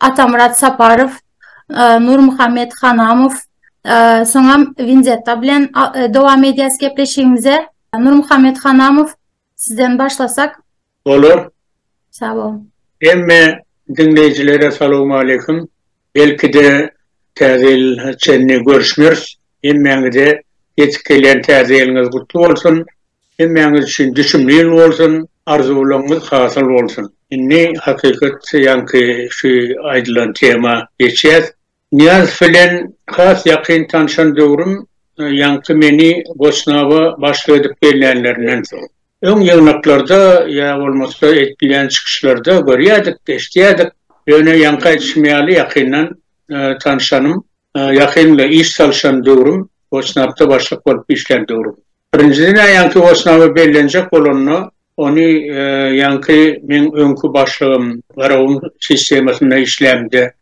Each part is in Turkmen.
Atamyrat Saparow, Nurmuhammet Hanamow, soňam Winzetta bilen dowam edýäs gepleşigimize. Nurmuhammet Hanamow, sizden başlasak. Bolar. Sag boluň. Hemme diňleýjilere salowmaleýkim. Belki-de, Täze ýyla çenli görüşmeris. Hemmäňize ýetip gelýän Täze ýylyňyz gutly bolsun. Hemmäňiz üçin düşümli ýyl bolsun, arzuwlaryňyz hasyl bolsun. Indi hakykat ýaňky şu aýdylan tema geçýäs. Nyýazow bilen has ýakyn tanşan döwrüm ýaňky meni Goçnaba başlyk edip bellänlerinden soň. Öň ýygnaklarda ýa bolmasa edilýän çykyşlarda görýädik, eşidýädik. Ýöne ýaňky aýdyşym ýaly ýakyndan tanşanym. Ýakynda iş salyşan döwrüm, Wosnapda başlyk bolup işlän döwrüm. Birinjiden-ä ýaňky Wosnaby bellenjek bolanda, ony ýaňky meň öňki başlygym, Garagun sistemasynda işlämde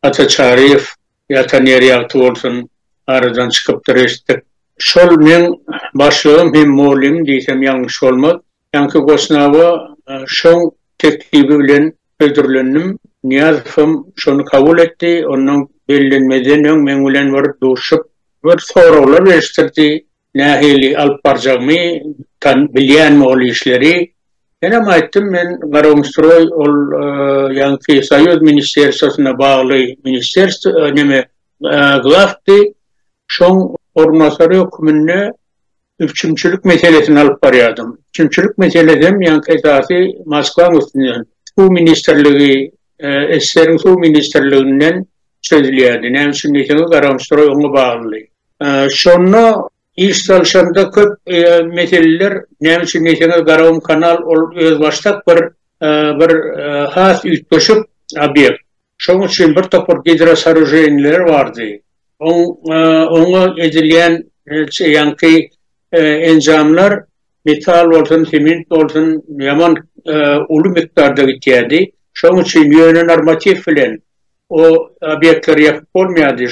Ata Çaryýew, ýatan ýeri ýagty bolsun, aradan çykypdyr eşitdik. Şol meň başlygym hem mugallymym diýsem ýalňyş bolmaz. Ýaňky Gosnawa şoň teklibi bilen hödürlendim. Nyýazowam şony kabul etdi. Onnoň bellenmezden öň meň bilen bir duşup, bir soraglar berişdirdi, nähili alyp barjakmy, tan, bilýänmi ol işleri. Menem aýtdym, men Garagumstroý ol ýaňky Soýuz ministerstwasyna bagly ministerstw, neme, glawdy. Şoň orunbasary höküminde Üpjünçilik meselesini alyp barýardym. Üpjünçilik meselesi hem ýaňky esasy Moskwaň üstünden, Suw ministrligi, SSR-iň Suw ministrliginden çözülýärdi. Näme üçin diýseňiz, Garamstroý oňa baglydy. Şonda iş salyşanda köp meseleler, näme üçin diýseňiz, Garagumkanal ol özbaşdak bir bir has üýtgeşik obýekt. Şonuň üçin bir topar gidrosoroženiler bardy. Oňa edilýän ýaňky enjamlar metal bolsun, sement bolsun ýaman uly mukdarda gitýärdi. Şonuň üçin ýöne normatiw bilen o obýektleri ýapyp bolmaýardy.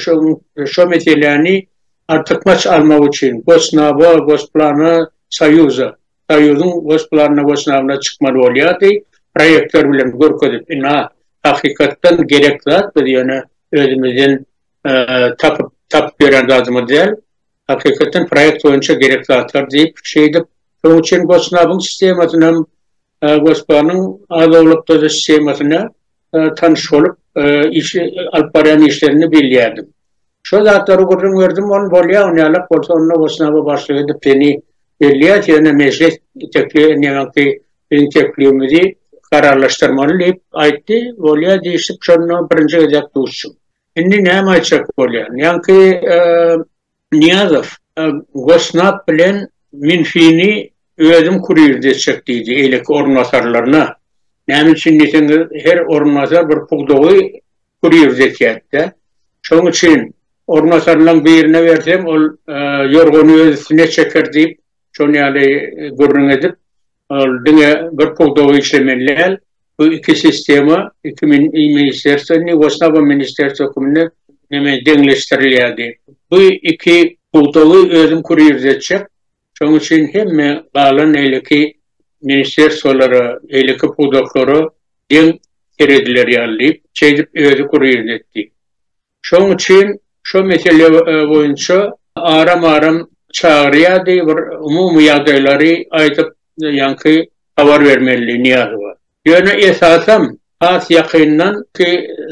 Şo meseläni artykmaç almak üçin Gosnaba, Gosplana, Soýuza Soýuzyň Gosplanna we synagynda çykmaly bolýardy, proýektör bilen görkezip, ynha, hakykatdan gerek zat, biz ýöne özümizden tapyp, tapyp ýören zadymyz däl, hakykatdan proýekt boýunça gerek zatlar diýip, şeýdip, şonuň üçin Gosnabyň sistemasynam, Gospanyň az-owlakda-da sistemasyna, tanyş bolup, işi alyp barýan işlerini bilýärdim. Şol zatlary gürrüň berdim, ony bolýar, ony ýalak bolsa, onda Gosnaba başlyk edip seni belleýäs, ýöne mejlis tekli neneňsi biziň teklibimizi kararlaşdyrmaly diýip aýtdy, bolýar diýşip, şonda birinji gezek duşdum. Indi näme aýtjak bolýan? Ýaňky Nyýazow, Gosnap bilen Minfini özüm kurir desjek diýdi eýleki orunbasarlaryna. Näme üçin diýseňiz, her orunbasar bir pudagy kurir desýärdi-dä. Şoň üçin orunbasarlaryň birine bersem, ol ýorgany öz üstüne çeker diýip, Şonuň ýaly gürrüň edip, ol diňe bir pudagy işlemeli däl, bu iki sistema, iki ministrsiwa, indi bolsa bu ministrsiwa hökmünde neme deňleşdirilýär diýip. Bu iki pudagy özüm kurýer etjek, şonuň üçin hemme galan eýleki ministrsiwalara, eýleki pudaklara deň serediler ýaly diýip, şeýdip özi kurýer etdi. Şonuň üçin şo mesele boýunça aram-aram çagyrýardy, bir umumy ýagdaýlary aýdyp, ýaňky habar bermelidi Nyýazowa. Ýöne esasam, has ýakyndan, ki,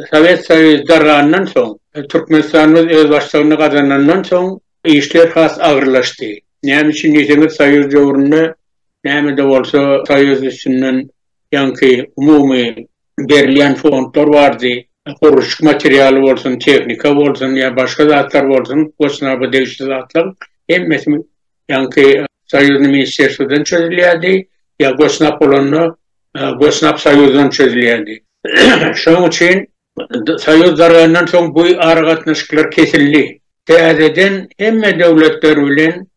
Sowet Soýuzy dargandan soň, Türkmenistanymyz özbaşdygyny gazanandan soň işler has agyrlaşdy. Näme üçin diýseňiz, Soýuz döwründe näme-de bolsa Soýuz üstünden ýaňky umumy berilýän fondlar bardy, gurluşyk materialy bolsun, tehnika bolsun ýa başga zatlar bolsun, gosnaba degişli zatlaryň hemmesi ýaňky soýuzny ministrerstwodan çözülýärdi, ýa gosnap bolanda gosnap soýuzdan çözülýärdi. Şonuň üçin Soýuz dargandan soň bu aragatnaşyklar kesildi. Täzeden hemme döwletler bilen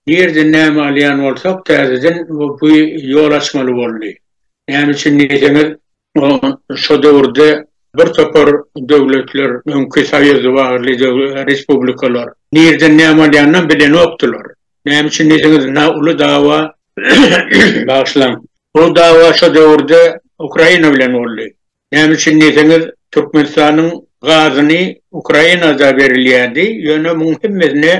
nireden näme alýan bolsak täzeden bu ýol açmaly boldy. Näme üçin diýseňiz, şo döwürde bir topar döwletler, öňki soýuz bagly respublikalar nireden näme alýanynam bilenokdylar. Näme üçin diýseňiz, na uly dawa, bagyşlaň, uly dawa şo döwürde Ukraina bilen boldy. Näme üçin diýseňiz, Türkmenistanyň gazyny Ukraina-da berilýärdi, ýöne muň hemmesine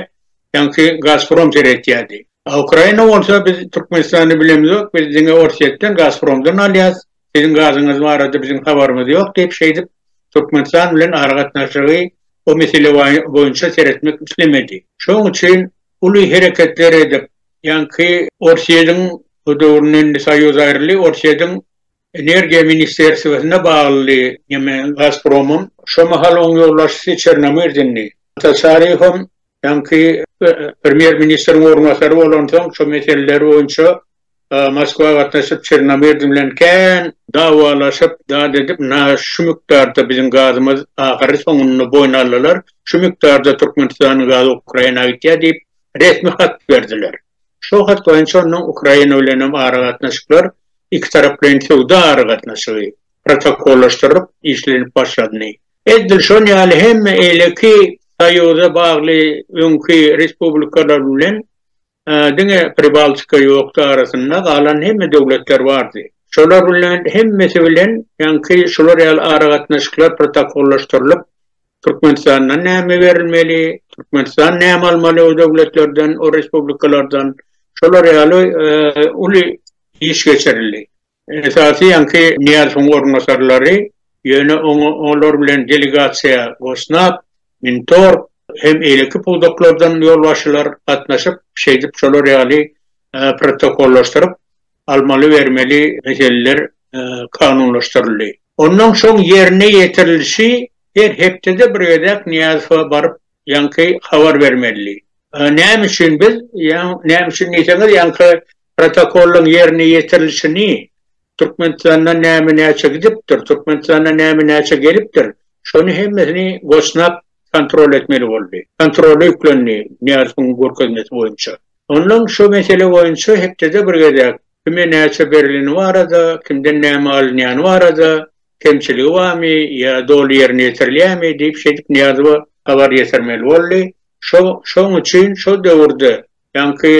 ýaňky Gazprom seretýärdi. A Ukraina bolsa, biz Türkmenistany bilemizok, biz diňe Orsýetden, Gazpromdan alýas, siziň gazyňyz barada biziň habarymyz ýok diýip, şeýdip Türkmenistan bilen aragatnaşygy o mesele boýunça seretmek islemedi. Şoň üçin uly hereketler edip, ýaňky Orsýediň, o döwründe indi Soýuz aýryldy, Orsýediň Energiýa ministerstwesine bagly neme Gazpromyň şo mahal oň ýolbaşçysy Çernomyrdindy. Ataçaryýew hem öňki premýer ministriň orunbasary bolansoň şo meseleler boýunça Moskwa gatnaşyp Çernomyrdin bilen kän dawalaşyp zat edip na şu mukdarda biziň gazymyz ahyry soňunda boýun aldylar şu mukdarda Türkmenistanyň gazy Ukraina gitýär diýip resmi hat berdiler. Şol hat boýunça onuň Ukraina bilenem aragatnaşyklar ikitaraplaýyn söwda aragatnaşygy protokollaşdyrylyp işlenip başlandy. Edil şol ýaly hem eýleki soýuza bagly öňki respublikalar bilen diňe Pribaltika ýokdy arasynda galan hemme döwletler bardy. Şolar bilen hemmesi bilen ýaňky şular ýaly aragatnaşyklar protokollaşdyrylyp Türkmenistandan näme berilmeli, Türkmenistan näme almaly o döwletlerden, o respublikalardan, şolar ýaly uly iş geçirildi. Esasy ýaňky Nyýazowyň orunbasarlary, ýöne olar bilen delegasiýa Gosnap, Mintorg hem eýleki pudaklardan ýolbaşçylar gatnaşyp, şeýdip şolar ýaly protokollaşdyryp, almaly-bermeli meseleler kanunlaşdyryldy. Ondan soň ýerine ýetirilişi her hepdede bir gezek Nyýazowa baryp ýaňky habar bermelidi. Näme üçin biz, näme üçin diýseňiz, ýaňky protokollaryň ýerine ýetirilişini, Türkmenistandan näme-näçe gidipdir, Türkmenistana näme-näçe gelipdir, şony hemmesini goçnap kontrol etmeli boldy. Kontrola ýüklendi, Nyýazowyň görkezmesi boýunça. Ondan şu mesele boýunça hepdede bir gezek, kime näçe berileni barada, kimden näme alynýany barada, kemçiligi barmy ýa doly ýerine ýetirilýärmi diýip şeýdip Nyýazowa habar ýetirmeli boldy. Şo, şoň üçin şo döwürde, ýaňky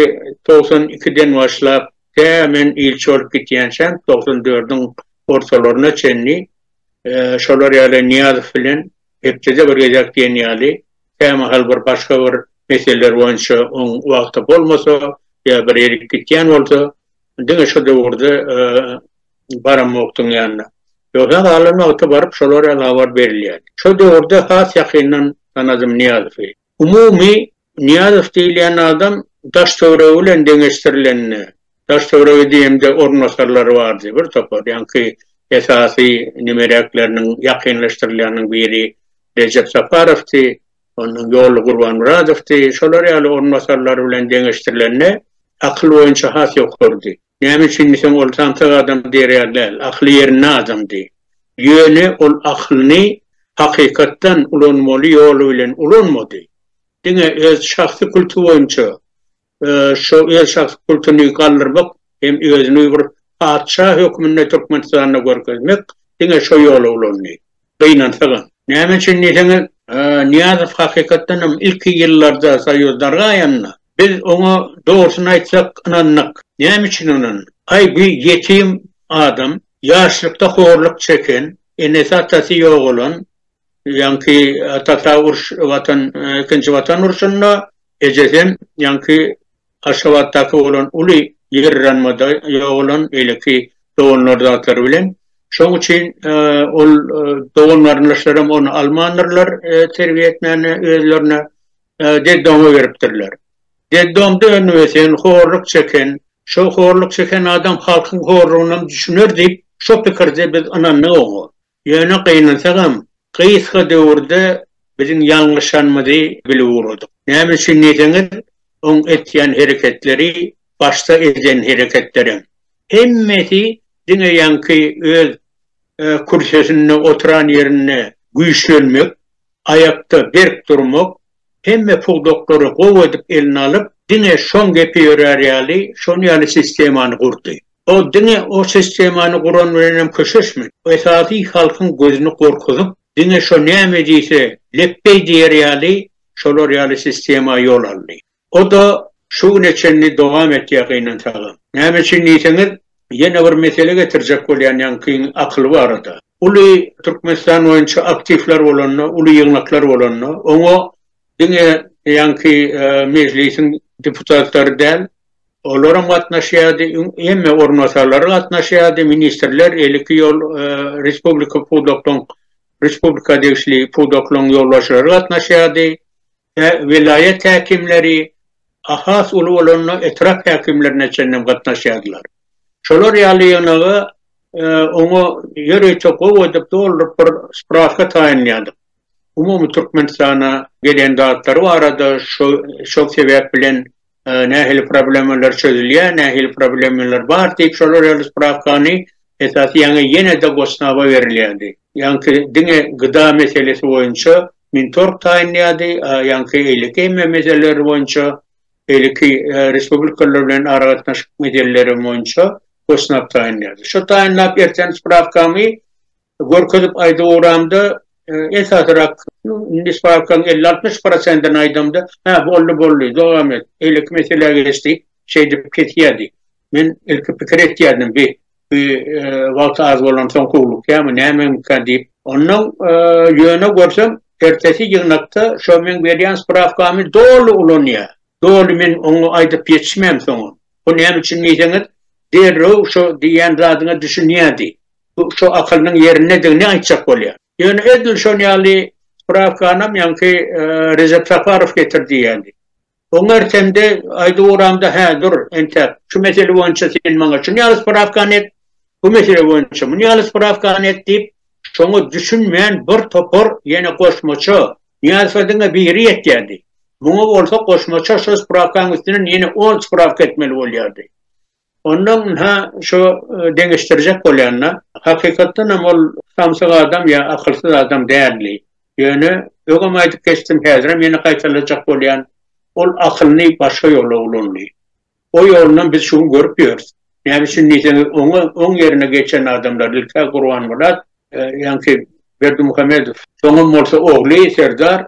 togsan ikiden başlap, tä men ilçi bolup gitýänçäm, togsan dördüň ortalaryna çenli, şolar ýaly Nyýazow bilen Hepdede bir gezek diýen ýaly, kämahal bir başga bir meseleler boýunça oň wagty bolmasa ýa bir erip gitýän bolsa, diňe şu döwürde baramokdyň ýanyna. Ýogsa galan wagty baryp şolar ýaly habar berilýärdi. Şo döwürde has ýakyndan tanadym Nyýazowy. Umumy Nyýazow diýilýän adam daş-töweregi bilen deňeşdirilende, daş-töweregi diýemde orunbasarlary bardy bir topar, ýaňky esasy nimeräkleriniň ýakynlaşdyrylýanyň biri Rejep Saparowdy, ondan Ýolly Gurbanmyradowdy, şolar ýaly orunbasarlary bilen deňeşdirilende akyl boýunça has ýokarydy. Näme üçin diýseň, ol samsyk adam diýer ýaly däl, akyly ýerinde adamdy. Ýöne ol akylyny hakykatdan ulanmaly ýoly bilen ulanmady. Diňe öz şahsy kulty boýunça, şo öz şahsy kultyny galdyrmak hem özüni bir patyşa hökmünde Türkmenistanda görkezmek, diňe şo ýoly ulandy. Gynansagam. Näme üçin diýseňiz, Nyýazow hakykatdan hem ilki ýyllarda soýuz dargaýanda, biz oňa dogrusyny aýtsak ynandyk. Näme üçin ynandyk? Aý bu ýetim adam, ýaşlykda horluk çeken, enesi-atasy ýogalan, ýaňky atasy-a uruş, Watan, ikinji Watan urşunda, ejesi hem ýaňky Aşgabatdaky bolan uly ýerranmada ýogalan beýleki doganlar zatlary bilen. Şoň üçin ol dogan-garyndaşlaram ony almandyrlar terbiýe etmäne özlerine, detdoma beripdirler. Detdomda öňübösen, horluk çeken, şo horluk çeken adam halkyň horlugynam düşüner diýip, şo pikirde biz ynandyk oňa. Ýöne gynansagam, gysga döwürde biziň ýalňyşanymyzy bilip ugradyk. Näme üçin diýseňiz, oň etýän hereketleri başda eden hereketlerem. Hemmesi diňe ýaňky öz kürsesinde oturan ýerinde güýçlenmek, aýakda berk durmak, hemme pudaklary gowy edip eline alyp, diňe şoň gepi ýörär ýaly, şoň ýaly sistemany gurdy. Ol diňe o sistemany guran bilenem köşeşmedi. Esasy halkyň gözüni gorkuzyp, diňe şo näme diýse, lepbeý diýer ýaly, şolar ýaly sistema ýol aldy. O-da şu güne çenli dowam etýär gynansagam. Näme üçin diýseňiz, ýene bir mesele getirjek bolýan ýaňkyň akyly barada. Uly Türkmenistan boýunça aktiwler bolanda, uly ýygnaklar bolanda, oňa diňe ýaňky Mejlisiň deputatlary däl, Olaram gatnaşýardy, hemme orunbasarlary gatnaşýardy, ministrler, eliki ýol respublika pudaklaryň respublika degişli pudaklaryň ýolbaşçylary gatnaşýardy, welaýat häkimleri, a has uly bolanda etrap häkimlerine çenlem gatnaşýardylar. Şolar ýaly ýygnaga oňa ýörite gowy edip dolduryp bir spraska taýynlaýardyk. Umumy Türkmenistana gelen zatlary barada şo şo sebäp bilen nähili problemalar çözülýär, nähili problemalar bar diýip şolar ýaly sprawkany esasy ýaňy ýene-de Gosnaba berilýärdi. Ýaňky diňe gda meselesi boýunça Mintorg taýynlaýardy, a ýaňky beýleki hemme meseleler boýunça, beýleki respublikalar bilen aragatnaşyk meseleleri boýunça Gosnab taýynlaýardy. Şo taýynlap erteni sprawkamy Görkezip aýdyp ugramda, esasyrak, nisbapkaň elli-altmyş prosentini aýdamda, Hä, boldy, boldy, dowam et, beýleki meselä geç diýip, şeýdip kesýärdi. Men ilki pikir etýärdim, Bi, bi wagty az bolansoň howlukýarmy, nämemikä diýip. Onnoň, ýöne görsem, ertesi ýygnakda şo meň berýän sprawkamy doly ulanýar. Doly men oňa aýdyp ýetişmänsoňam, Bu näme üçin diýseňiz, derrew şo diýýän zadyňa düşünýärdi. Bu şu akylynyň ýerindedigini aýtjak bolýar. Ýöne edil şon ýaly sprawkanam ýaňky Rejep Safarow getirdi ýaly. Oň ertemde aýdyp ugramda hä dur entäk şu mesele boýunça sen maňa şun ýaly sprawkany et, bu mesele boýunça mun ýaly sprawkany et diýip şoňa düşünmän bir topar ýene goşmaça ýazsa diňe biri ýetýärdi. Muňa bolsa goşmaça şu sprawkaň üstünden ýene on sprawka etmeli bolýardy. Ondan ha şu deňeşdirjek bolýanda, hakykatdan hem ol samsyk adam ýa akylsyz adam däldi. Ýöne, öňem aýdyp geçdim, häzirem ýene gaýtalajak bolýan, ol akylyny başga ýola ulandy. O ýolunam biz şu gün görüp ýörüs. Näme üçin diýseňiz, oňa oň ýerine geçen adamlar ilk-ä Gurbanmyrat, ýaňky Berdimuhamedow, soňam bolsa ogly Serdar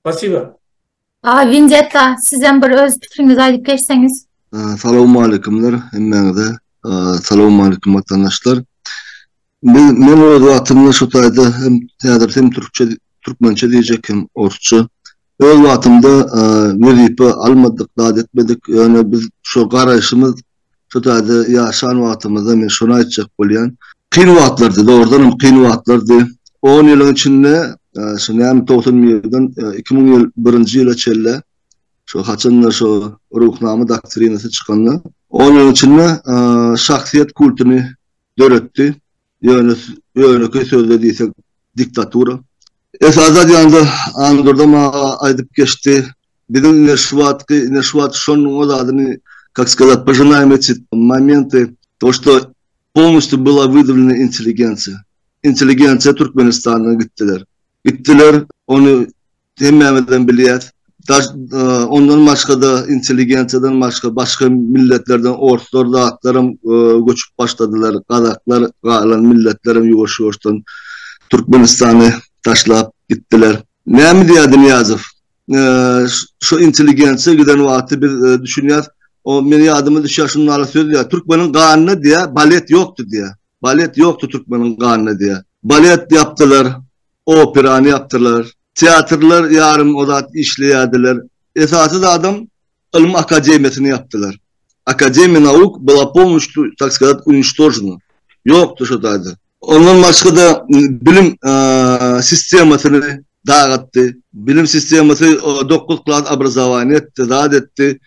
Spasiba. Aga Winzeta sizem bir öz pikiriňizi aýdyp geçseňiz. Salowmaleýkumlar hemmäňize. Salowmaleýkum watandaşlar. Men öz wagtymda şu taýda hem häzir hem türkçe türkmençe diýjek hem orsça. Öz wagtymda wezipe almadyk zat etmedik ýöne biz şu garaýşymyz Şu taýda ýaşan wagtymyzda men şony aýtjak bolýan. Kyn wagtlardy, dogrudanam kyn wagtlardy. On ýylyň içinde şu näme togsan bir ýerden iki müň ýyl birinji ýyla çenli şu haçanda şu Ruhnama doktrinasy çykanda on ýylyň içinde şahsyýet kultyny döretdi. Ýöne ýönekeý sözde diýsek diktatura. Esasy zat ýa-da Andurdam aga aýdyp geçdi. Biziň ine şu wagtky, ine şu wagt şonuň zadyny kak skazat požinaýym eçi momenty to što polnostýu byla wydavljena intelligensiýa. Intelligensiýa Türkmenistandan gitdiler. Gitdiler, ony Hemmämizem bilýäs. Daş, ondan başga-da, intelligensiýadan başga, başga milletlerden orslar zatlaram göçüp başladylar. Gazaklar, galan milletlerem ýuwaş-ýuwaşdan Türkmenistany taşlap gitdiler. Näme diýýärdi Nyýazow? Şu intelligensiýa giden wagty biz düşünýäs, o, meniň ýadyma düşýär, şuny ala söz diýýär, Türkmeniň ganynda, diýýär, balet ýokdy, diýýär. Balet ýokdy türkmeniň ganynda, diýýär. Balet ýapdylar, Operany ýapdylar. Teatrlar ýarym ozat işleýärdiler. Esasy zadam, ylym akademiýasyny ýapdylar. Akademiýa nauk byla pomuştu, tak skazat, uniçtožena. Ýokdy şo taýda. Ondan başga-da bilim sistemasyny dagatdy. Bilim sistemasy dokuz klas obrazowaniýa etdi, zat etdi.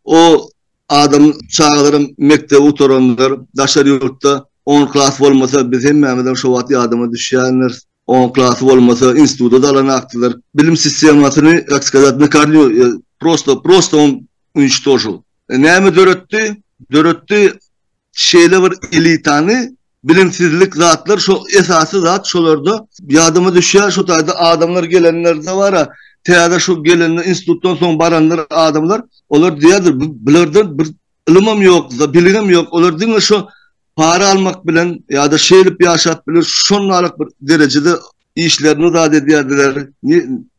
O Adam çagalarym mekdebi gutaranlar daşary ýurtda on klas bolmasa biz hemmämizem şo wagt ýadyma düşýändiris on klasy bolmasa instituda da alanakdylar bilim sistemasyny tak skazat na karnýu prosto prosto on uniştožil näme döretdi döretdi Şeýle bir elitany bilimsizlik zatlar şo esasy zat şolarda ýadyma düşýär şo taýda adamlar gelenlerde bara täze şu gelende institutdan soň baranlar adamlar olar diýerdir bulardan bir ylymam ýok biligem ýok olar diňe şo para almak bilen ýa-da şeýlip ýaşap biler şonnalyk bir derejede işlerini zat edýärdiler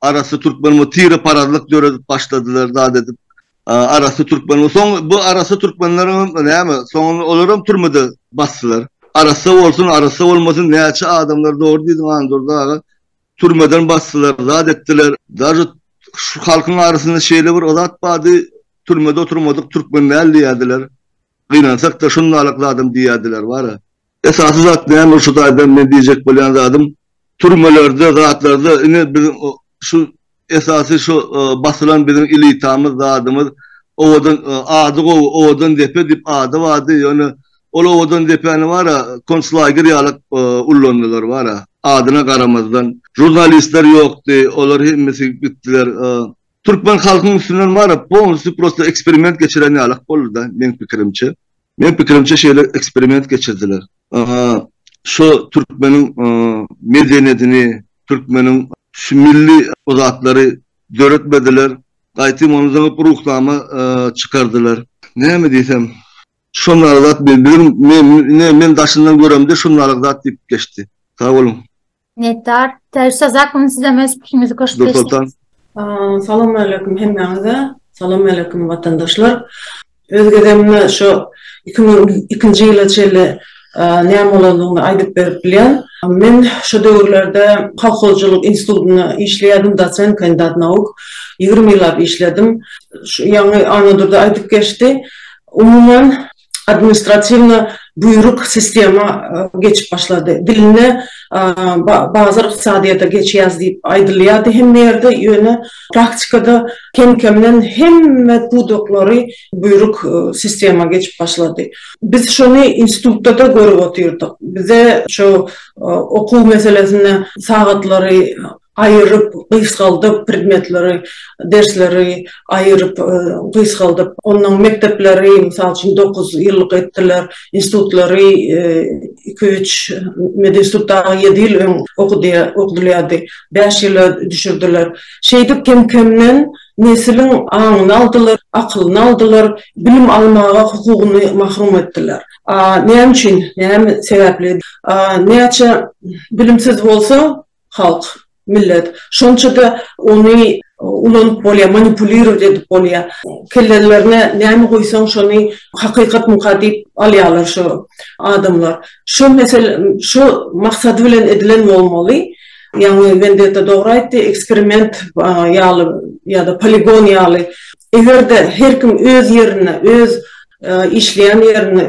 Arassa türkmen bu tire parazlyk döredip başladylar zat edip. Arassa türkmen bu soň bu arassa türkmenleriň näme soňunda olaram türmede basdylar. Arassa bolsun arassa bolmasyn näçe adamlar dogry diýdiň Andurdy aga türmeden basdylar zat etdiler. Daže şu halkyň arasynda şeýle bir zat bardy türmede oturmadyk türkmen däl diýerdiler. Gynansakda şundalyk zadam diýerdiler bara. Esasy zat näme şu taýdan men diýjek bolýan zadym türmelerde zatlarda ine biz şu esasy şu basylan biziň elitamyz zadymyz owadan ady gowy owadan depe diýip ady bardy ýöne ol owadan depäni bara konslaýger ýalak ullandylar bara adyna garamazdan žurnalistler ýokdy olar hemmesi gitdiler Türkmen halkyň üstünden baryp polnusy prosto eksperiment geçiren ýalyk boldyda meň pikirimçe. Meň pikirimçe şeýle eksperiment geçirdiler. Şo türkmeniň medeniýetini, türkmeniň şu milli o zatlary döretmediler. Gaýtym ony zyňyp ruhnama çykardylar. Näme diýsem. Şondaly zat biziň men daşyndan göremde şondaly zat diýip geçdi. Sag boluň. Minnetdar. Täze sazak bilen sizem öz pikiriňizi goşup geçseňiz. Nursoltan. Salam aleýkum hemmäňize. Salam aleýkum watandaşlar. Öz gezegimde şu iki müň ikinji ýyla çenli näme bolandygyny aýdyp berip bilýän. Men şo döwürlerde kolhozçylyk institutynda işleýärdim, dosent, kandidat nauk. Ýigrimi ýyllap işledim. Şu ýaňy Annadurdy aýdyp geçdi. Umuman, administratiwna buýruk sistema geçip başlady. Dilinde bazar ykdysadyýete geçýäs diýip aýdylýardy hemme ýerde, ýöne praktikada kem-kemden hemme pudaklary buýruk sistema geçip başlady. Biz şony institutda-da görüp otyrdyk. Bize şu okuw meselesinde sagatlary, aýyryp, gysgaldyp, predmetleri, dersleri aýyryp, gysgaldyp, onnoň mekdepleri, mysal üçin, dokuz ýyllyk etdiler, institutlary iki-üç, medinstitut dagy ýedi ýyl öň okudylýardy, bäş ýyla düşürdiler. Şeýdip, kem-kemden nesliň aňyny aldylar, akylyny aldylar, bilim almaga hukugyny mahrum etdiler. A näme üçin, näme sebäpli? Näçe bilimsiz bolsa, halk, millet. Şonça-da ony ulanyp bolýar, manipulirowat edip bolýar. Kellelerine näme guýsaň, şony hakykatmyka diýip alýarlar şu adamlar. Şu mesele, şu maksady bilen edilen bolmaly. Ýagny Wendetta dogry aýtdy, eksperiment ýaly ýa-da poligon ýaly Eger-de her kim öz ýerinde, öz işleýän ýerinde,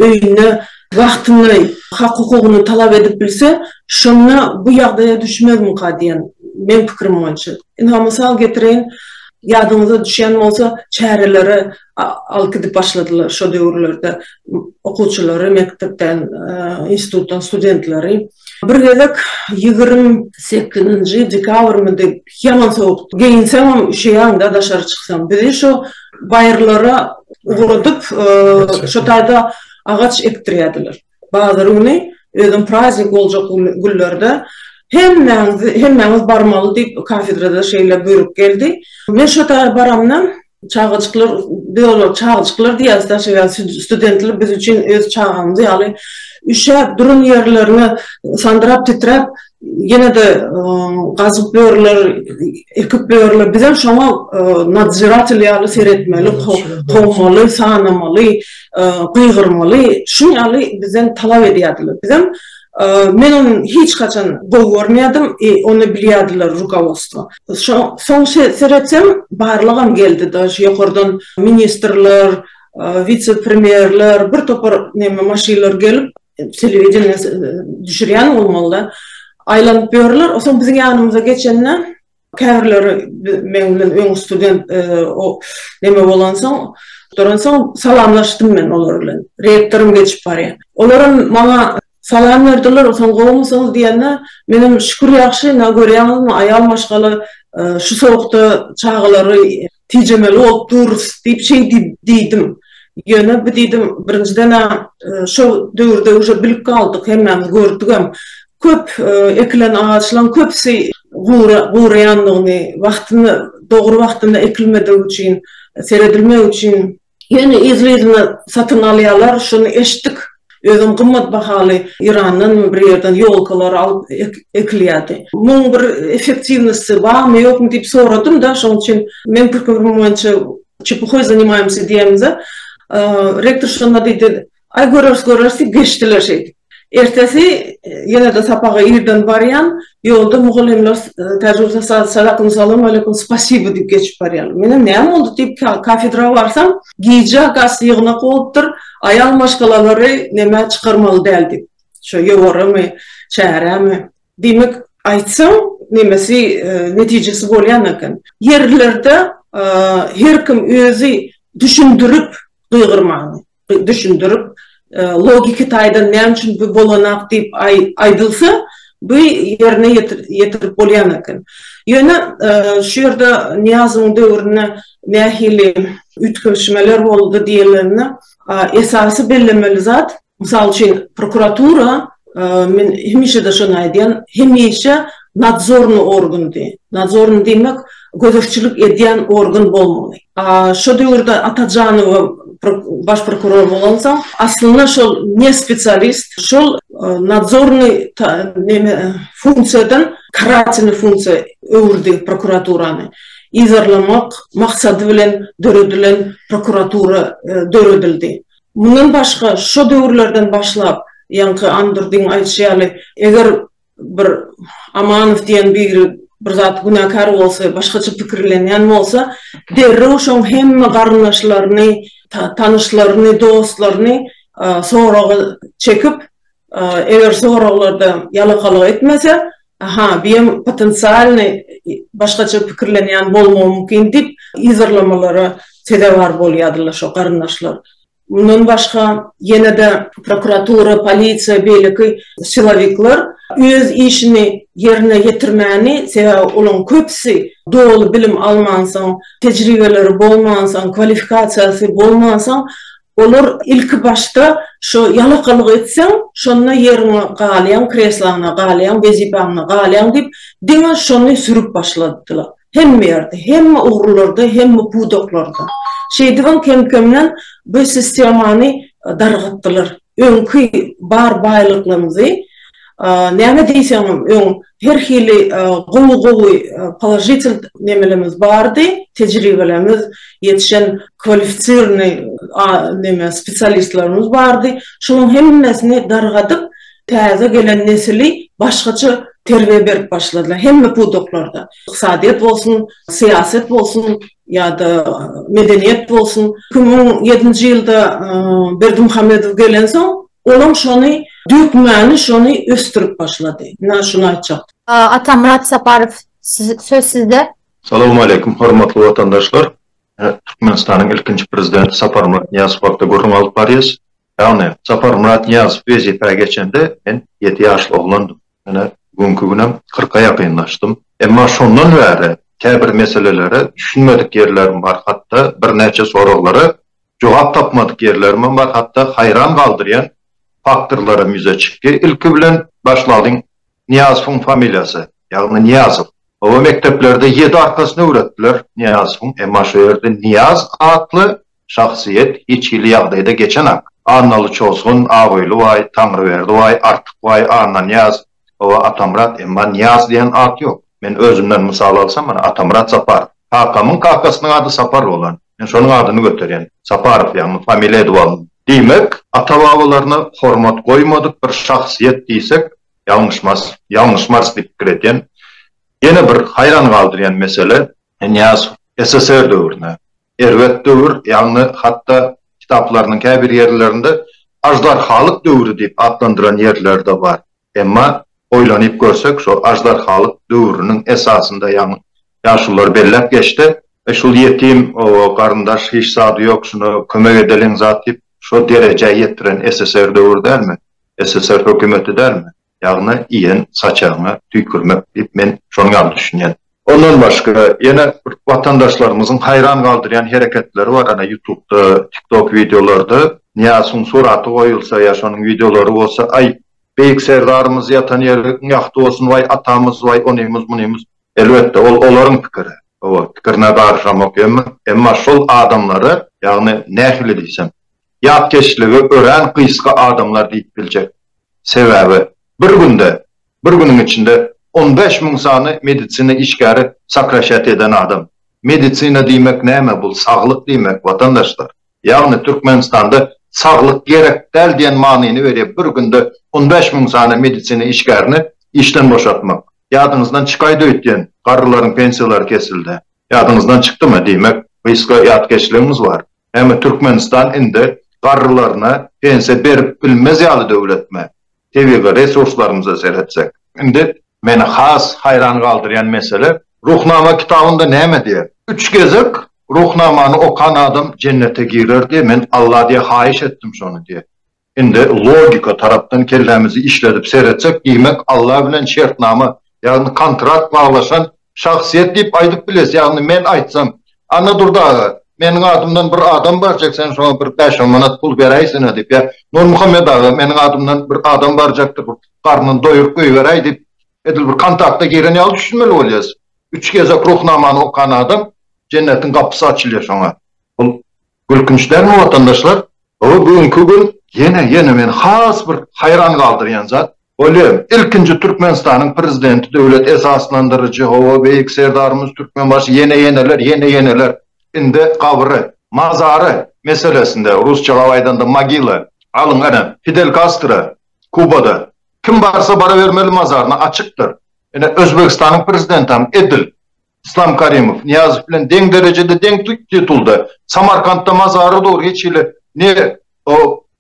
öýünde wagtyny, hak-hukugyny talap edip bilse, şonda bu ýagdaýa düşmezmika diýen meň pikirim boýunça. Ynha, mysal getireýin, ýadyňyza düşýän bolsa, çäreleri alyp gidip başladylar şo döwürlerde okuwçylary, mekdepden, institutdan studentleri. Bir gezek ýigrimi sekizinji dekabrmydy, ýaman sowukdy. Geýinseňem üşeýäň-de daşary çyksaň. Bizi şo baýyrlara ugradyp, şo taýda agaç ekdirýärdiler. Bazar güni, özem praznik boljak günlerde hemmäňiz barmaly diýip, kafedrada şeýle buýruk geldi. Men şo taýa baramda. Çagajyklar, biz olara çagajyklar diýýäris daşa, ýa studentler biz üçin öz çagamyz ýaly üşäp duran ýerlerine sandyrap titräp ýene-de gazyp ýörler, ekip ýörler. Bizem şoňa nadżiratel ýaly seretmeli, kowmaly, sanamaly, gygyrmaly. Şuň ýaly bizden talap edýärdiler. Bizem men ony hiç haçan gowy görmeýärdim, ony bilýärdiler rukowostvo. Soň seretseň barlygam geldi daş ýokardan ministrler, wise premýerler bir topar neme maşynlar gelip telewideniýe düşürýän bolmalyda aýlanyp ýörler o soň biziň ýanymyza geçende käbirleri meň bilen öň student neme bolansoň salamlaşdym men olar bilen rektoram geçip barýa olaram maňa Salam berdiler, soň gowumysyňyz diýende, menem şükür ýagşy, ynha görýäňizmi, aýal maşgala şu sowukda çagalary tijemeli bolup durus diýip şeý diýdim. Ýöne bu diýdim, birinjiden-ä şol döwürde uje bilip galdyk, hemmämiz gördügem, köp ekilen agaçlaryň köpüsi guraýandygyny, wagtynda, dogry wagtynda ekilmedigi üçin, seredilmegi üçin Ýöne yzly-yzyna satyn alýarlar, şuny eşitdik. Özem gymmat bahaly Yrandanmy bir ýerden ýolkalar alyp ekilýärdi. Muň bir effektiwnosty barmy, ýokmy diýip soradym-da, şoň üçin men pikirimiň boýunça çepuhoý zanimaýmsy diýemde, rektor şonda diýdi, Aý göreris göreris diýip geçdiler şeýdip. Ertesi ýene-de sapaga irden barýan, ýolda mugallymlar täjigürse salakum salam aleýkum spasibo diýip geçip barýarlar. Menem näme boldy diýip kafedra barsam, gije has ýygnak bolupdyr, aýal maşgalalary nämä çykarmaly däl diýip. Şo ýowaramy, çäremi. Diýmek, aýtsaň nemesi netijesi bolýan eken. Ýerlerde her kim özi düşündirip gygyrmaly. düşündirip, logiki taýdan näme üçin bu bolanak diýip aýdylsa, bu ýerine ýetirip bolýan eken. Ýöne şu ýerde Nyýazowyň döwründe nähili üýtgeşmeler boldy diýilende, esasy bellemeli zat, mysal üçin, prokuratura, Men hemişe-de şony aýdýan, hemişe nadzornyý organ diýen, nadzornyý diýmek, gözegçilik edýän organ bolmaly. Şo döwürde Atajanowa baş prokuror bolansoň, aslynda şol ne spesialist, şol nadzornyý neme funksiýadan karatelnyý funksiýa öwürdi prokuraturany. Yzarlamak maksady bilen döredilen prokuratura döredildi. Mundan başga, şo döwürlerden başlap, ýaňky Andurdyň aýdyşy ýaly, eger bir Amanow diýen biri bir zat günäkär bolsa, başgaça pikirlenýän bolsa, derrew şoň hemme garyndaşlaryny, tanyşlaryny, dostlaryny soraga çekip, Eger soraglarda ýalakalyk etmese, Aha, biem potensialnyý başgaça pikirlenýän bolmagy mümkin diýip yzarlamalara sezewar bolýadylar şo garyndaşlar. Mundan başga, ýene-de prokuratura, polisiýa, beýleki silowikler öz işini ýerine ýetirmäni, sebäbi olaryň köpüsi doly bilim almansoň, tejribeleri bolmansoň, kwalifikasiýasy bolmansoň, Olar ilki başda şo ýalakalyk etseň, şonda ýeriňe galýaň, kresloňa galýaň, wezipäňe galýaň diýip, diňe şony sürüp başladylar. Hemme ýerde, hemme ugurlarda, hemme pudaklarda. Şeýdibem kem-kemden bu sistemany dargatdylar. Öňki bar baýlyklarymyzy. Näme diýseňem öň her hili gowy gowy položitel nemelerimiz bardy, tejribelerimiz ýetişen kwalifisirny neme spesialistlerimiz bardy, şolaň hemmesini dargadyp täze gelen nesili başgaça terbiýe berip başladylar hemme pudaklarda, ykdysadyýet bolsun, syýaset bolsun ýa-da medeniýet bolsun. Iki müň ýedinji ýylda Berdimuhamedow gelensoň Olaň şony dökmäni şony ösdürip başlady. Ina şuny aýtjak. Atamyrat Saparow söz sizde. Salowmaleýkim hormatly watandaşlar. Türkmenistanyň ilkinji prezidenti Saparmyrat Nyýazow hakda gürrüň alyp barýas. Ýagny Saparmyrat Nyýazow wezipä geçende men ýedi ýaşly oglandym. Ine bu günki günem kyrka ýakynlaşdym. Emma şondan bäri käbir meselelere düşünmedik ýerlerim bar hatda birnäçe soraglara Jogap tapmadyk ýerlerimem bar, hatda haýran galdyrýan faktorlaram ýüze çykdy. Ilki bilen başlalyň, Nyýazowyň familiýasy, ýagny Nyýazow. Oba mekdeplerde ýedi arkasyny öwretdiler Nyýazowyň, emma şo ýerde Nyýaz atly şahsyýet hiç hili ýagdaýda geçenak. Annaly Çozgun, Abyly baý, Taňryberdi baý, Artyk baý, Annanyýaz, Hawa, Atamyrat, emma Nyýaz diýen at ýok. Men özümden mysal alsam, mana, Atamyrat Saparow. Kakamyň kakasynyň ady Sapar bolan. Men şonuň adyny göterýän. Saparow, ýagny familiýa edip aldym. Diýmek, ata-babalaryna hormat goýmadyk bir şahsyýet diýsek, ýalňyşmarys, ýalňyşmarys diýip pikir edýän. Ýene bir haýran galdyrýan mesele, Nyýazow SSR döwrüne, Erbet döwür, ýagny hatda kitaplarynyň käbir ýerlerinde Aždarhalyk döwri diýip atlandyran ýerleri-de bar. Emma oýlanyp görsek, şo Aždarhalyk döwrüniň esasynda, ýagny ýaşulular belläp geçse, şul ýetim garyndaş hiç zady ýok, şuna kömek edeliň zat diýip, şo derejä ýetiren SSR döwri dälmi? SSR hökümeti dälmi? Ýagny iýen saçagyňa tüýkürmek diýip men şonuň ýaly düşünýän. Ondan başga ýene bir watandaşlarymyzyň haýran galdyrýan hereketleri bar ana ýutubda tiktok wideolarda Nyýasuň suraty goýulsa ýa şonuň wideolary bolsa aý Beýik Serdarymyz ýatan ýeri iň ýagty bolsun waý atamyz waý onymyz munymyz elbetde ol olaryň pikiri oba pikirine garyşamok emma emma şol adamlara ýagny nähili diýsem ýatkeşligi örän gysga adamlar diýip biljek. Sebäbi, bir günde, bir günüň içinde on bäş müň sany medisina işgäri sokraşat eden adam. Medisina diýmek näme? Bul saglyk diýmek, watandaşlar. Ýagny Türkmenistanda saglyk gerek däl diýen manyny berýär bir günde on bäş müň sany medisina işgärini işden boşatmak. Ýadyňyzdan çykaýdy öýtýän, garrylaryň pensiýalary kesildi. Ýadyňyzdan çykdymy? Diýmek, gysga ýatkeşligiňiz bar. Näme Türkmenistan indi garrylaryna pensiýa berip bilmez ýaly döwletmi? Tebigy resurslarymyza seretsek. Indi meni has haýran galdyrýan mesele, Ruhnama kitabynda näme diýer? Üç gezek Ruhnamany okan adam jennete girer diýer, men Alla diýer haýyş etdim şony diýer. Indi logika tarapdan kellämizi işledip seretsek diýmek Alla bilen şertnama ýagny kontrakt baglaşan şahsyýet diýip aýdyp biles ýagny men aýtsam Annadurdy aga meniň adymdan bir adam barjak sen şoňa bir bäş on manat pul beräýsene diýip ýa Nurmuhammet aga meniň adymdan bir adam barjakdyr bir garnyny doýuryp goýberäý diýip edil bir kontakta giren ýaly düşünmeli bolýas üç gezek ruhnamany okan adam jennetiň gapysy açylýa şoňa bul Gülkünç dälmi watandaşlar? Hawa bu günki gün ýene ýene meni has bir haýran galdyrýan zat, ol ýer ilkinji Türkmenistanyň prezidenti döwlet esaslandyryjy hawa beýik Serdarymyz Türkmenbaşy ýene ýeneler ýene ýeneler indi gabry, mazary meselesinde rusçalap aýdanda mogila alyň ene Fidel Kastro Kubada kim barsa barabermeli mazaryna açykdyr ene Özbegistanyň prezidentam edil Yslam Karimow, Nyýazow bilen deň derejede, deň titulda. Samarkantda mazary dur, hiç hili ne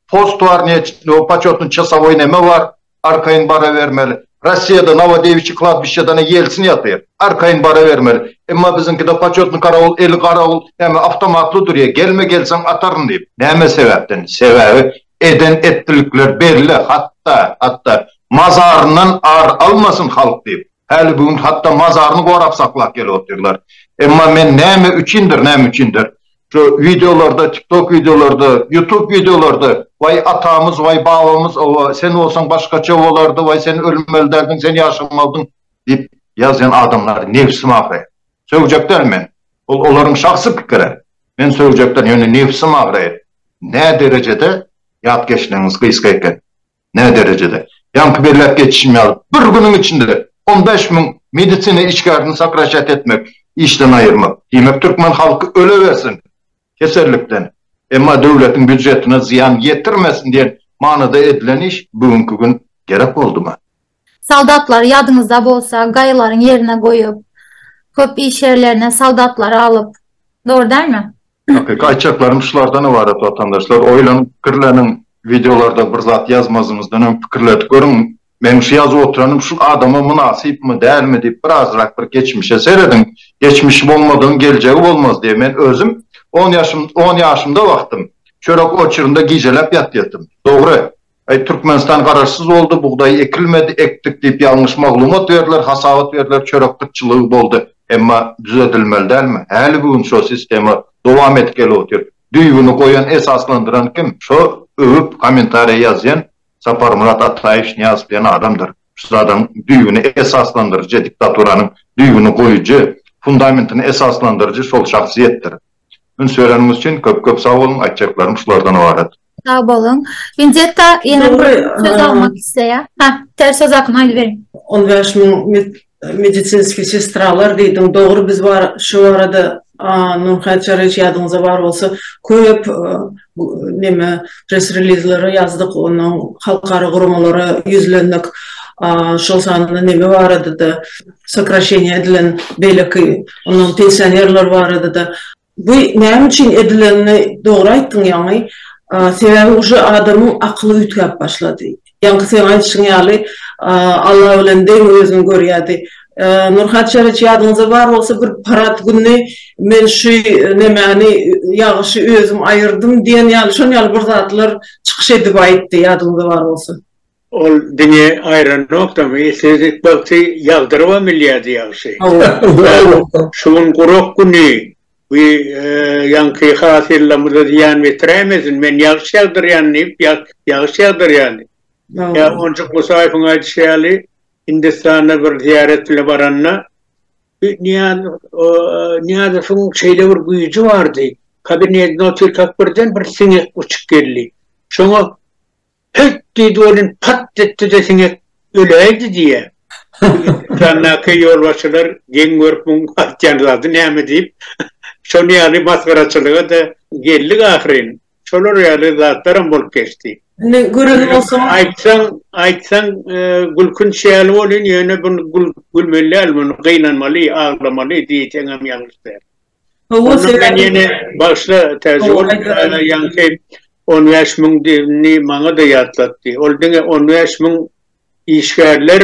post bar, ne početny çasowoý neme bar, arkaýyn barabermeli. Rossiýada Nowodewiçi kladbişçedana Ýelsin ýatyr, arkaýyn barabermeli. Emma biziňkide početny karawul, eli garawul, näme awtomatly durýa, gelme, gelseň ataryn diýip. Näme sebäpden? Sebäbi eden etdilikler belli, hatda, hatda mazaryndan ar almasyn halk diýip. Häli bu gün hatda mazaryny gorap saklap gelip otyrlar. Emma men näme üçindir, näme üçindir, şu wideolarda, tiktok wideolarda, ýutub wideolarda, waý atamyz, waý babamyz, owo, sen bolsaň başgaça bolardy, waý sen ölmeli däldiň, sen ýaşamalydyň diýip ýazýan adamlary nebsim agraýar. Sögejek däl men. Ol olaryň şahsy pikiri. Men sögejek däl, ýöne nebsim agraýar. Näderejede ýat geçligiňiz gysga eken. Nä derejede? Ýaňky belläp geçişim ýaly, bir günüň içinde on bäş müň medisina işgärini sokraşat etmek, işden aýyrmak, diýmek türkmen halky ölewersin kesellikden, emma döwletiň býujetine zyýan ýetirmesin diýen manyda edilen iş bu günki gün gerek boldumy? Soldatlary ýadyňyzda bolsa gaýalaryň ýerine goýup, köp iş ýerlerine soldatlary alyp, dogry dälmi? Hakyky aýtjaklarym şulardan ybarat watandaşlar, oýlanyp pikirleniň, wideolarda bir zat ýazmazymyzdan öň pikirledip görüň, meniň şu ýazyp oturanym şul adama mynasypmy, dälmi diýip bir azrak bir geçmişe serediň, geçmişi bolmadygyň geljegi bolmaz diýe men özüm on ýaşym on ýaşymda wagtym çörek oçurynda gijeläp ýatýatym, dogry. Aý Türkmenistan garaşsyz boldy, bugdaý ekilmedi, ekdik diýip ýalňyş maglumat berdiler, hasabat berdiler, çörek gytçylygy boldy. Emma düzedilmeli dälmi? Häligi gün şo sistema dowam edip gelip otyr. Düýbüni goýan, esaslandyran kim? Şo öwüp kommentariýa ýazýan Saparmyrat Ataýewiç Nyýazow diýen adamdyr. Şu zadyň düýbüni esaslandyryjy, diktaturanyň düýbüni goýujy, fundamentini esaslandyryjy şol şahsyýetdir. Üns bereniňiz üçin köp-köp sag boluň, aýtjaklarym şulardan ybarat. Sag bolun. Vinzetta ýene bir söz almak isleýär. Ha, ter söz akym aýdyp beriň. 15 müň medisinski sestralar diýdiň. Dogry biz bar şu barada Nurhäýt Çaryýewiç ýadyňyzda bar bolsa köp neme press relizleri ýazdyk, onuň halkara guramalara ýüzlendik. Şol sanda neme barada-da sokraşeniýa edilen beýleki onuň pensionerler barada-da. Bu näme üçin edilenini dogry aýtdyň ýaňy, sebäbi uje adamyň akyly üýtgäp başlady. Ýaňky seň aýdyşyň ýaly Alla bilen deň özüni görýärdi. Nurhat Çereç ýadyňyzda bar bolsa bir parat gününi men şu nemäni ýagyşy özüm aýyrdym diýen ýaly şon ýaly bir zatlar çykyş edip aýtdy ýadyňyzda bar bolsa. Ol diňe aýranokdamy, siz bagty ýagdyrybam bilýärdi ýagşy. Şu gün gurak güni, bu ýaňky hasylymyza zyýan betiräýmesin, men ýagşy ýagdyrýan diýip, ýagşy ýagdyrýardy. Ýa onjak Musaýewiň aýdyşy ýaly, Hindistana bir zyýarat bile baranda, Nyýazowyň şeýle bir güýji bardy, kabinetine otyrkak birden bir siňek uçup geldi. Şoňa Hylt diýdi welin, pat etdi-de siňek öläýdi diýýä. Ekrandäki ýolbaşçylar geň görüp muň aýtýan zady näme diýip, şol ýaly masgaraçylyga-da geldik ahyryn. Şolar ýaly zatlaram bolup geçdi. Indi gören bolsaň. Aýtsaň, aýtsaň gülkünç ýaly bolýan, ýöne bu gülmeli däl, muny gynanmaly, aglamaly diýseňem ýalňyş däl. Howwa sebäbi ýene başda täze bolupdyr ýaňky on bäş müň diýenini maňada ýatlatdy ol diňe on bäş müň işgärler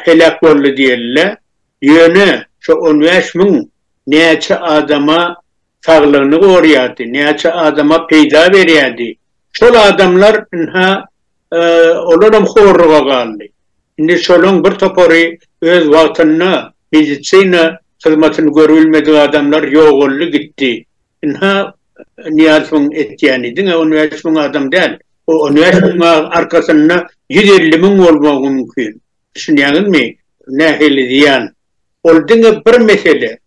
heläk boldy diýildi ýöne şo on bäş müň näçe adama saglygyny gorýardy näçe adama peýda berýärdi şol adamlar ynha Olaram horluga galdy. Indi şolaň bir topary öz wagtynda medisina hyzmatyny görübilmedik adamlar ýogaldy gitdi. Ynha Nyýazowyň etýäni diňe on bäş müň adam däl. O on bäş müň arkasynda ýüz elli müň bolmagy mümkin. Düşünýäňizmi nähili zyýan. Ol diňe bir mesele.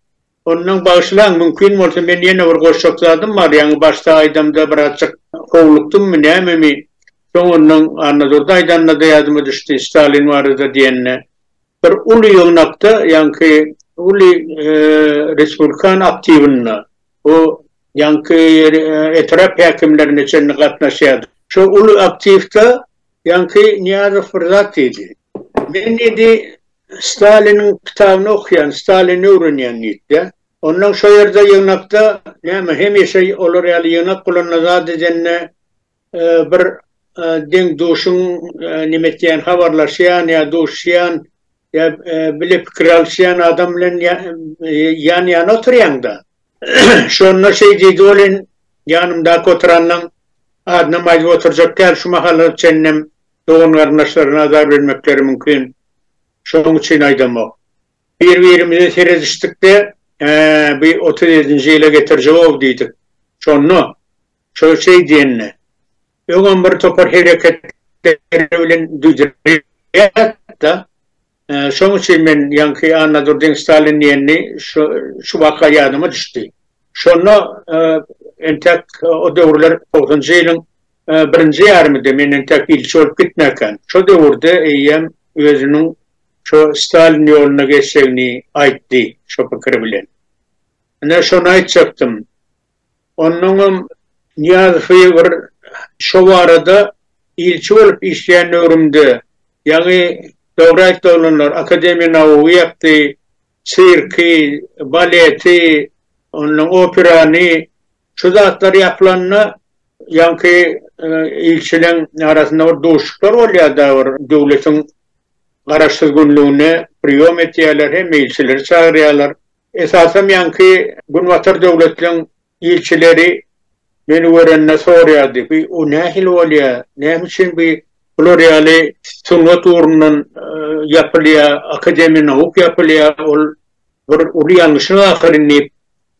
Ondan bagyşlaň, mümkin bolsa men ýene bir goşjak zadym bar, ýaňy başda aýdamda birazjyk howlukdymmy nämemi, soň ondan Annadurdy aýdanda-da ýadyma düşdi, Stalin barada diýende. Bir uly ýygnakda, ýaňky uly respublikan aktiwynda, o ýaňky etrap häkimlerine çenli gatnaşýardy. Şo uly aktiwda ýaňky Nyýazow bir zat diýdi. Men diýdi, Staliniň kitabyny okýan, Stalini öwrenýän diýipdi. Onnoň şo ýerde ýygnakda, näme, hemişe olar ýaly ýygnak bolanda zat edende bir deň-duşuň näme etýän, habarlaşýan ýa duşýan ýa bile pikir alyşýan adam bilen ýan-ýana oturýaň-da. Şonda şeý diýdi, Ol in ýanymdaky oturanyň adynam aýdyp oturjak däl, şu mahalyna çenlem dogan-garyndaşlaryna azar bermekleri mümkin. Şonuň üçin aýdamok. Bir-birimize seredişdik-de, Hä, bu otuz ýedinji ýyla getirjek-ow diýdik. Şonda, şo şeý diýende, öňem bir topar hereketleri bilen duýdurýar-da. Şonuň üçin men ýaňky Annadurdyň Stalin diýenini şu waka ýadyma düşdi. Şonda entek o döwürler togsanjy ýylyň birinji ýarymyda menden täk ilçi bolup gitmäkäm. Şo döwürde eýýäm özüniň şo Stalin ýoluna geçjegini aýtdy şo pikiri bilen. Ine, şony aýtjakdym. Onnoňam Nyýazowy bir şo barada ilçi bolup işleýän döwrümde, ýaňy dogry aýtdy oglanlar, Akademiýa nauk ýapdy, sirki, baleti, onnoň operany Şu zatlar ýapylanda, ýaňky ilçileň arasynda bir duşuşyklar bolýar-da, bir döwletiň garaşsyz günlügine priýom etýärler, hemme ilçileri çagyrýarlar. Esasam ýaňky günbatar döwletleň ilçileri meni görende sorýardy, bi u nähili bolýar, näme üçin bi bular ýaly sungat ugrundan ýapylýar, akademiýa nauk ýapylýar, ol bir uly ýalňyşyň ahyryn diýip,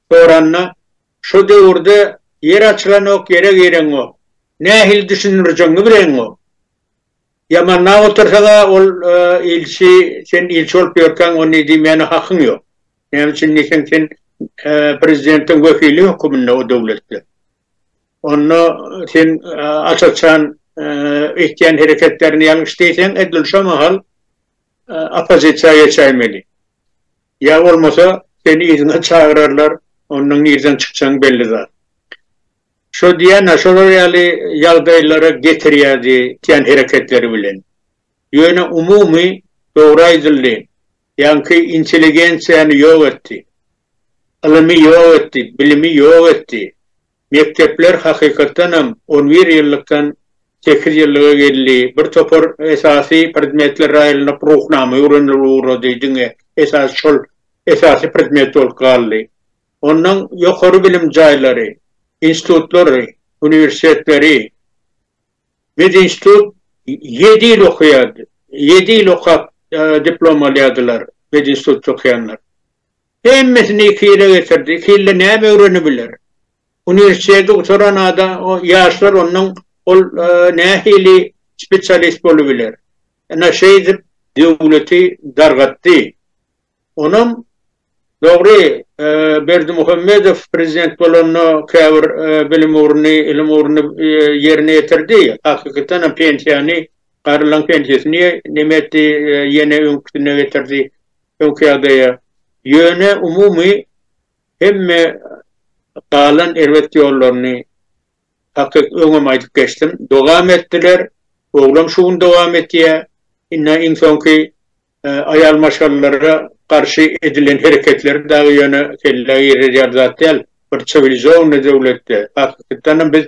Soranda, Şo döwürde ýer açylanok, ýere gireňok. Nähili düşündirjegiňi bileňok. Ýamandap otursaň-a, ol ilçi, sen ilçi bolup ýörkäň, ony diýmäne hakyň ýok. Näme üçin diýseň, sen prezidentiň wekili höküminde o döwletde. Onda sen aç-açan etýän hereketlerini ýalňyş diýseň, edil şo mahal oppozisiýa geçäýmeli. Ýa bolmasa, seni yzyna çagyrarlar, ondan nirden çykjagyň belli zat. Şo diýýän-ä, şolar ýaly ýagdaýlara getirýärdi etýän hereketleri bilen. Ýöne umumy dogry aýdyldy, ýaňky intelligensiýany ýok etdi. Ylymy ýok etdi, bilimi ýok etdi. Mekdepler hakykatdan hem on bir ýyllykdan sekiz ýyllyga geldi. Bir topar esasy predmetler aýrylyp Ruhnama öwrenilip ugrady, diňe esasy şol esasy predmet bolup galdy. Ondan ýokary bilim jaýlary, institutlary, uniwersitetleri, medinstitut ýedi ýyl okaýardy, ýedi ýyl okap diplom alýardylar medinstitutda okaýanlar. Hemmesini iki ýyla geçirdi. Iki ýylda näme öwrenebiler? Uniwersiteti gutaran adam, ýaşlar ondan ol nähili spesialist bolubiler? Ine şeýdip döwleti dargatdy. Onam dogry, Berdimuhamedow prezident bolanda käbir bilim ugruny, ylym ugruny ýerine ýetirdi. Hakykatanam pensiýany, garylaň pensiýasyny näme etdi, ýene öňküsine getirdi. öňki ýagdaýa, ýöne umumy hemme galan erbet ýollaryny hakyk öňem aýdyp geçdim, dogam etdiler, oglam şu gün dogam etýä, indi iň soňky aýal maşgalalara garşy edilen hereketleri dagy ýöne kellä girerýär zat däl, bir çiwilizowny döwletde, hakykytanam biz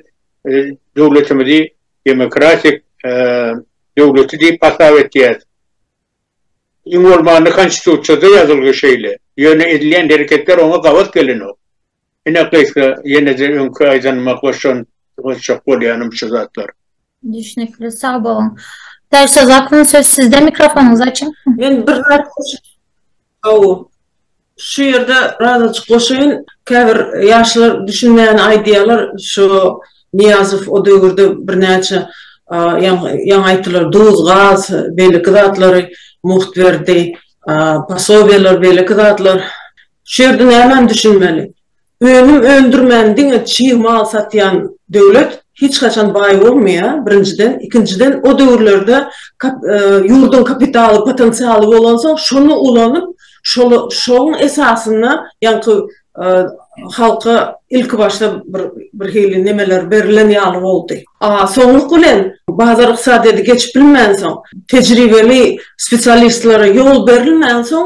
döwletimizi demokratik döwleti diýip hasap etýäs. Iň bolmanda konstitusiýada ýazylgy şeýle, ýöne edilýän hereketler oňa gabat gelenok. Ine gysga ýene-de öňki aýdanyma goşan goşjak bolýanym şu zatlar. Düşnükli, sag boluň. Täşli Zakon söz sizde mikrofonyňyzy açyň. Men bir zat goşup. Haw. Şu ýerde birazajyk goşaýyn. Käbir ýaşlar düşünmäni aýdýarlar. Şu Nyýazow o döwürde birnäçe ýaňy aýtdylar, duz, gaz, beýleki zatlary mugt berdi, posobiýalar, beýleki zatlar. Şu ýerde nämäni düşünmeli? Önüm öndürmän diňe çig mal satýan döwlet hiç haçan baý bolmaýar, birinjiden, ikinjiden o döwürlerde ýurduň kapitaly, potensialy bolansoň şony ulanyp şoň esasynda ýaňky halka ilki başda bir hili nemeler berilen ýaly boldy. A soňluk bilen bazar ykdysadyýeti geçip bilmänsoň, tejribeli spesialistlere ýol berilmänsoň,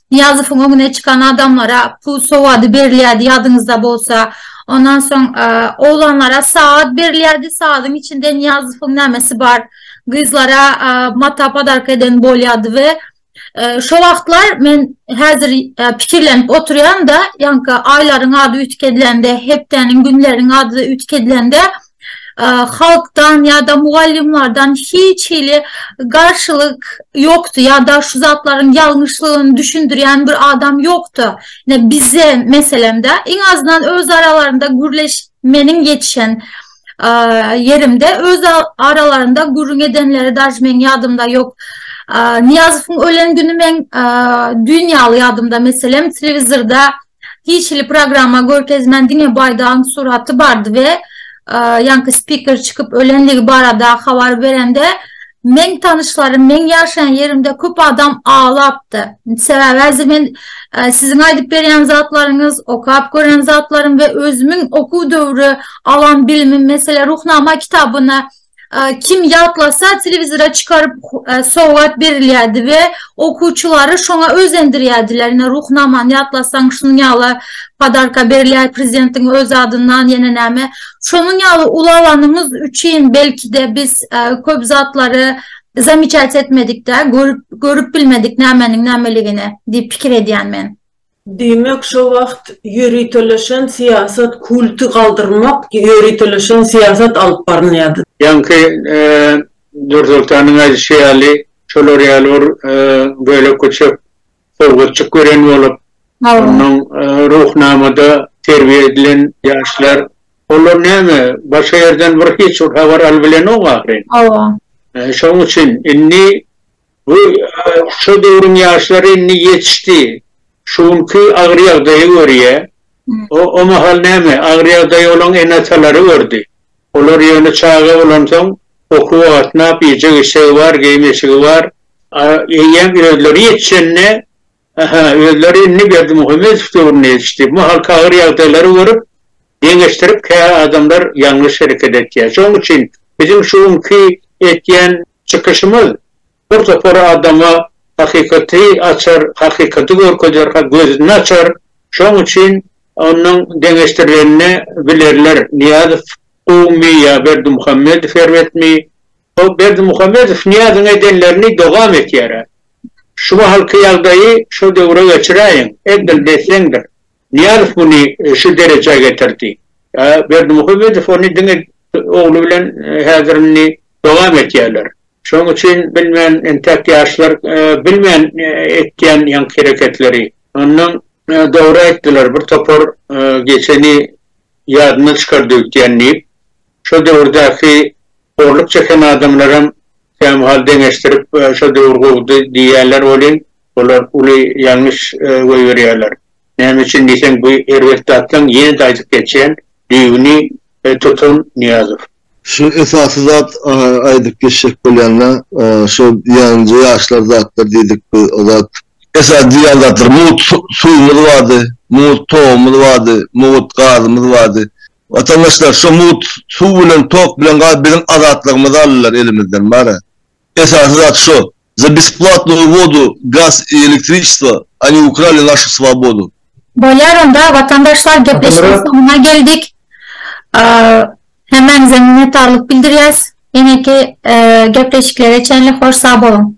Nyýazowyň öňüne çykan adamlara pul sowady berilýärdi, ýadyňyzda bolsa. Ondan soň oglanlara sagat berilýärdi, sagadyň içinde Nyýazowyň nämesi bar, gyzlara mata podarka eden bolýardy we şo wagtlar men häzir pikirlenip oturýan-da, ýaňky aýlaryň ady üýtgedilende, hepdäniň, günleriň ady üýtgedilende, halkdan ýa-da mugallymlardan hiç hili garşylyk ýokdy ýa-da şu zatlaryň ýalňyşlygyny düşündirýän bir adam ýokdy. Ine bize meselemde iň azyndan öz aralarynda gürleş meniň ýetişen ýerimde öz aralarynda gürrüň edenleri daž meň ýadymda ýok. Nyýazowyň ölen güni meň düýn ýaly ýadymda meselem telewizorda hiç hili programma görkezmän diňe baýdagyň suraty bardy we ýaňky spiker çykyp ölendigi barada habar berende meň tanyşlarym meň ýaşaýan ýerimde köp adam aglapdy sebäbi häzir men siziň aýdyp berýän zatlaryňyz okap gören zatlarym we özümiň okuw döwri alan bilimim meselem ruhnama kitabyny Kim ýatlasa, telewizora çykaryp sowgat berilýärdi we okuwçylary şoňa özendirýärdiler. Ine, Ruhnamany ýatlasaň, şunuň ýaly podarka berilýär, prezidentiň öz adyndan, ýene näme. Şonuň ýaly ulalanymyz üçin belki-de biz köp zatlary zamiçat etmedik-dä, görüp bilmedik nämeniň nämeligini diýip pikir edýän men. Diýmek, şo wagt ýöriteleşen syýasat kulty galdyrmak ýöriteleşen syýasat alyp barylýardy. Ýaňky Nursoltanyň aýdyşy ýaly, şolar ýaly bir bölek-güçek sowgatjyk gören bolup, onnoň Ruhnamada terbiýe edilen ýaşlar, olar näme, başga ýerden bir hiç bir habar alybilenok ahyryn. Hawa. Şoň üçin indi Bu şo döwrüň ýaşlary indi ýetişdi. Şu günki agyr ýagdaýa görýä. O o mahal näme, agyr ýagdaýa olaň ene-atalary gördi. Olar ýöne çaga bolansoň, okuwa gatnap, iýjek-içjegi bar, geýim-eşigi bar. A eýýäm özleri ýetişende, Aha, özleri indi Berdimuhamedow döwrüne ýetişdi. Bu mahalky agyr ýagdaýlary görüp, deňeşdirip kä adamlar ýalňyş hereket etýär. Şonuň üçin biziň şu günki etýän çykyşymyz bir topar adama hakykaty açar, hakykaty görkezer, gözüni açar. Şonuň üçin onuň deňeşdirilenini bilerler. Nyýazow gowumy ýa Berdimuhamedow erbetmi? Ol Berdimuhamedow Nyýazyň edenlerini dowam etýär-ä. Şu mahalky ýagdaýy şo döwre geçiräýiň, edil desseňdir. Nyýazow muny şu derejä getirdi. A Berdimuhamedow ony diňe ogly bilen häzir indi dowam etýärler. Şonuň üçin bilmen entäk ýaşlar bilmen etýän ýaňky hereketleri. Onnoň dogry aýtdylar bir topar geçeni ýadyna çykardyk diýen diýip. Şo döwürdäki horluk çeken adamlaram kämahal deňeşdirip şo döwür gowudy diýýärler welin, olar uly ýalňyş goýberýärler. Näme üçin diýseň, bu erbet zatlaň, ýene-de aýdyp geçýän, düýbüni tutan Nyýazow. Şuny esasy zat aýdyp geçjek bolýanda, şo ýanynja ýaşlar zatlar diýdik biz, o zat. Esasy diýýän zatlar, mugt suwumyz bardy, mugt togumyz bardy, mugt gazymyz bardy. Watandaşlar şo mugt suw bilen tok bilen galy biziň azatlygymyzy aldylar elimizden bara esasy zat şo za besplatnuu vodu gaz i elektriçestvo oni ukrali našu svobodu. Bolýar onda watandaşlar gepleşigiň soňuna geldik hemmäňize minnetdarlyk bildirýäs eneki gepleşiklere çenli hoş sag boluň.